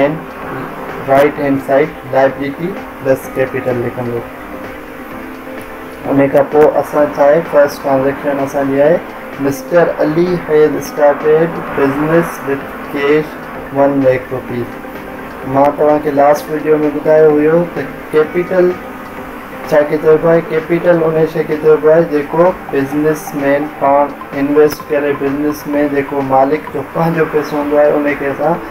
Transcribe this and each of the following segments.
And right hand side liability plus capital لکندو ان کان پوء اسان ڇا آهي فرسٽ ٽرانزيڪشن اسان جي آهي mister Ali has started business with cash one lakh rupee مان توهان کي لاسٽ ويڊيو ۾ ٻڌايو هيو ته ڪيپيٽل ڇا کي چئبو آهي ڪيپيٽل ان شي کي چئبو آهي جيڪو بزنس مين پاڻ انويسٽ ڪري بزنس مين جيڪو مالڪ جو پنهنجو پيسو هوندو آهي ان کي اسان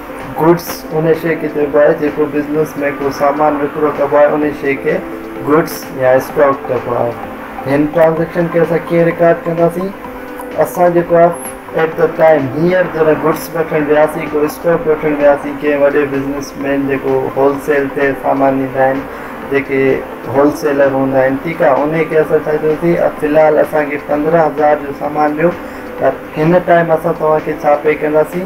گڊس، انهي شيء کي چئبو آهي جيڪو بزنس ۾ ڪو سامان وڪرو ڪبو آهي انهي شيء کي گڊس يا اسٽاڪ چئبو آهي. هن ٽرانزيڪشن کي اسان ڪيئن رڪارڊ ڪنداسين؟ اسان جيڪو آهي At the time، هينئر جڏهن گڊس وٺڻ وياسين، ڪو اسٽاڪ وٺڻ وياسين، ڪنهن وڏي بزنس مين جيڪو هول سيل تي سامان ڏيندا آهن، جيڪي هول سيلر هوندا آهن ٺيڪ آهي انهي کي اسان ڇا چئوسين في الحال اسان کي پندرهن هزار جو سامان ڏيو پر هن ٽائيم اسان توهان کي ڇا پي ڪنداسين؟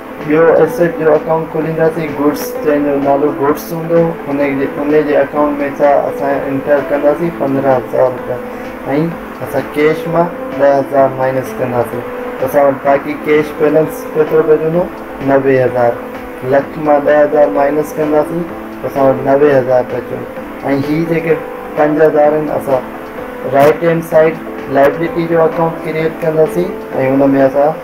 ٻيو ايسيٽ جو اڪائونٽ کولينداسين گڊس جنهن جو نالو گڊس هوندو ان جي اڪائونٽ ۾ ڇا اسان انٽر ڪنداسين پندرهن هزار روپيا ۽ اسان ڪيش مان ڏهه هزار مائنس ڪنداسين ته اسان وٽ باقي ڪيش بيلنس ڪيترو بچندو نوي هزار لک مان ڏهه هزار مائنس ڪنداسين ته اسان وٽ نوي هزار بچيو ۽ هي جيڪي پنج هزار آهن اسان رائٽ هينڊ سائيڊ لائبلٽي جو اڪائونٽ ڪريئيٽ ڪنداسين ۽ ان ۾ اسان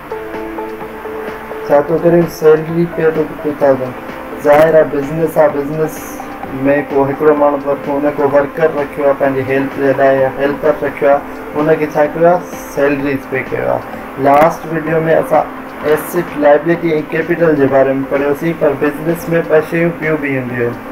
ڇا ٿو ڪرين سيلري پئي ٿو ٽو ٿائوزنڊ ظاهر آ بزنس آ بزنس ۾ ڪو هڪڙو ماڻهو ته رکيو ان ڪو ورڪر رکيو آ پنهنجي هيلپ جي لاء يا هيلپر رکيو آ ان کي ڇا ڪيو آ سيلريز پئي ڪيو آ لاسٽ وڊيو ۾ اسان ايسٽ لائبليٽي ۽ ڪيپيٽل جي باري ۾ پڙهيوسين پر بزنس ۾ ٻه شيون ٻيون به هونديون آهن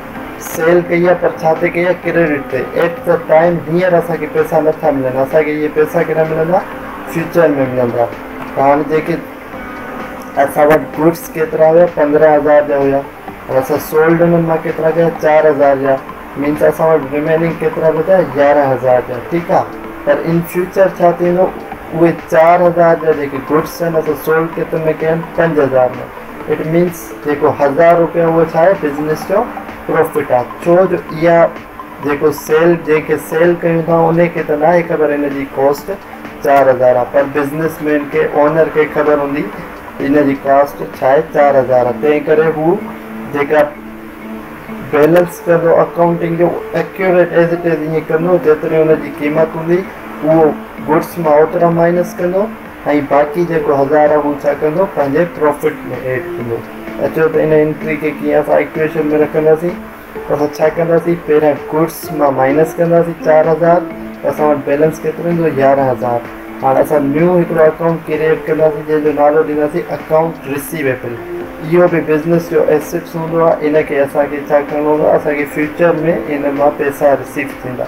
سيل ڪئي آ پر ڇا تي ڪئي آ ڪريڊٽ تي ائٽ دي ٽائيم هينئر اسان کي پئسا نه ٿا ملن اسان کي اهي پئسا ڪڏهن ملندا فيوچر ۾ ملندا ته هاڻي جيڪي اسان وٽ گوڊس ڪيترا هيا پندرهن هزار جا هيا پر اسان سولڊ انهن مان ڪيترا ڪيا چار هزار جا مين ته اسان وٽ ريميننگ ڪيترا بچا يارهن هزار جا ٺيڪ آ پر ان فيوچر ڇا ٿيندو اهي چار هزار جا جيڪي گوڊس آهن اسان سولڊ ڪيترن ۾ ڪيا آهن پنج هزار ۾ اٽ مينس جيڪو هزار روپيا اهو ڇا آهي بزنس جو پروفٽ آهي ڇو جو اها جيڪو سيل جنهن کي سيل ڪيون ٿا ان کي ته ناهي خبر ان جي ڪاسٽ چار هزار آهي پر بزنس مين کي اونر کي خبر هوندي ان جي ڪاسٽ ڇا آهي چار هزار آهي تنهن ڪري هو جيڪا بيلنس ڪندو اڪائونٽنگ جو ايڪيوريٽ ايز اٽ ايز ائين ڪندو جيتري ان جي قيمت هوندي اهو گڊس مان اوترا مائنس ڪندو ۽ باقي جيڪو هزار آ هو ڇا ڪندو پنهنجي پروفٽ ۾ ايڊ ڪندو اچو ته ان انٽري کي ڪيئن اسان ايڪويشن ۾ رکنداسين ته اسان ڇا ڪنداسين پهريان گڊس مان مائنس ڪنداسين چار هزار ته اسان وٽ بيلنس ڪيترو ايندو يارهن هزار هاڻ اسان نيو هڪڙو اڪائونٽ ڪريئيٽ ڪنداسين جنهن جو نالو ڏينداسين اڪائونٽ رسيويبل اهو به بزنس جو ايسٽس هوندو آ ان کي اسان کي ڇا ڪرڻو هوندو آ اسان کي فيوچر ۾ ان مان پئسا رسيو ٿيندا